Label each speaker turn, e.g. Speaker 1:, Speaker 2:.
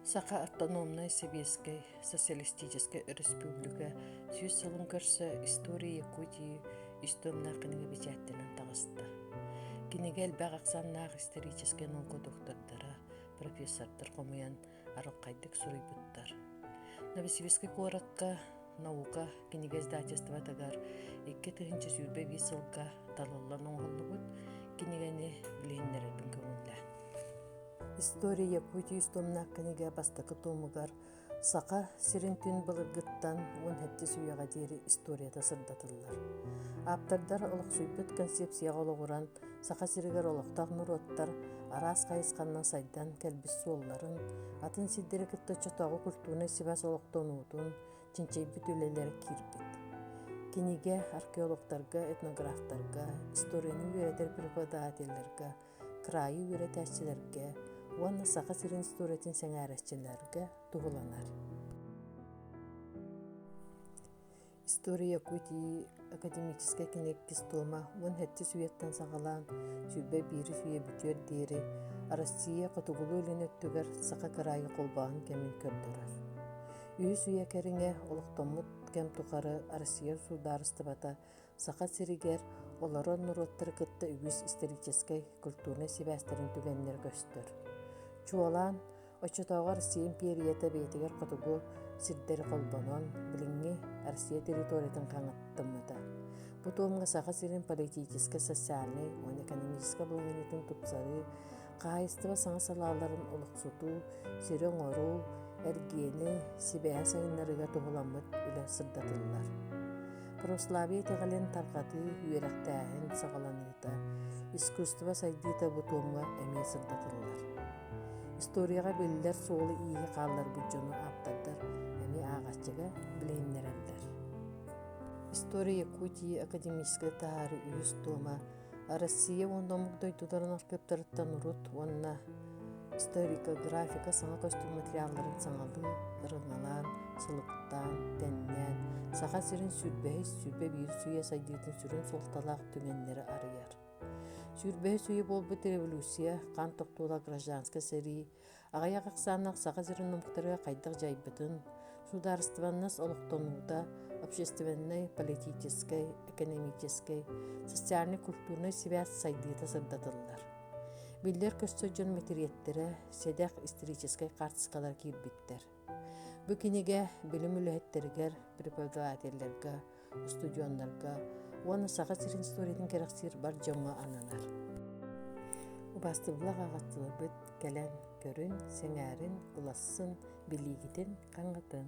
Speaker 1: Саха автономнай сэбиэскэй социалистическай өрөспүүбүлүкэ сүүс сылын көрсө «История Якутии» ис тылынааҕ кинигэ бэчээттэнэн таҕыста. Кинигэ элбэх ахсааннаах историческай наука доктордара, профессордар хомуйан арылхайдык суруйбуттар. Новосибирскай куоратка наука кинигэиздательствотыгар икки тыһынча сүүрбэ биир сылга талыллан оҥоһуллубут кинигэни билиһиннэрэрбин көҥүллээн история якутии үс томнаах кинигэ бастакы томугар саха сирин түн былыргыттан уон сэттис үйэҕэ диэри историята сырдатыллар ааптардар олохсуйбут концепцияҕа олоҕуран Саха сиригэр олохтоох норуоттар араас хайысханнан сайдан кэлбит суолларын, атын сирдэри кытта чотооҕу культурнай сибаас олохтонуутун, чинчийбит үлэлэрэ киирбит. Кинигэ археологтарга, этнографтарга, историяны үөрэтэр преподавателлэргэ, кыраайы үөрэтээччилэргэ уонна Саха сирин историятын сэҥээрээччилэргэ туһуланар. История Якутии академическай киниккис туома уон хэтчис үйэттэн саҕалаан сүүрбэ биирис үйэ бүтүөр диэри Россия хотугулуу илин өттүгэр саха кыраайы холбоон кэмин көрдөрөр. Үһүс үйэ кэриҥэ олохтоммут кэм тухары Россия судаарыстыбата Саха сиригэр олорор норуоттары кытта үгүс историческай, культурнай сибээстэрин түгэннэрэ көстөр. Чуолаан Оччотооҕор Сиэ империята бэйэтигэр хотугу сирдэри холбонон, билиҥҥи Россия территориятын хаҥаттыммыта. Бу туомҥа Саха сирин политическай, социальнай уонна экономическай былырыытын тупсарыы, хаһаайыстыба саҥа салааларын олохсутуу, сири оҥоруу, эргиэни сибэһэ сайыннарыыга туһуламмыт үлэ сырдатыллар. Православие итэҕэлин тарҕатыы, үөрэхтээһин саҕаланыыта, искусство сайдыыта бу туомҥа эмиэ сырдатыллар. Историяҕа биллэр суолу-ииһи хаалларбыт дьону ааптардар эмиэ аҕаччыга билиһиннэрэллэр. История Якутии академическай таһаары үһүс туома Россия уонна омук дойдуларын архыаптарыттан урут уонна историкографика саҥа көстүм материалларын саҥалыын сылыктаан, тэннээн, Саха сирин сүрбэһис, сүүрбэ биир үйэ сайдыытын сүрүн суолталаах түгэннэри арыйар. Сүүрбэһис үйэ буолбут революция, хан тохтуула гражданскай сэрии, аҕыйах ахсааннах Саха сирин омуктара хайдах дьайбытын, судаарыстыбаннас олохтонуута, общественнай, политическай, экономическай, социальнай-культурнай сибээс сайдыыта сырдатыллар. Биллэр-көстөр дьон мэтириэттэрэ, сэдэх историческай хаартыскалар киирбиттэр. Бу кинигэ билим үлэһиттэригэр, преподавателлэргэ, устудьуоннарга уонна Саха сирин историятын кэрэхсиир бар дьоҥҥо ананар. Убаастыбылах аҕаттыларбыт кэлэн көрүн, сэҥээрин, ылассын, билиигитин, хаҥатын.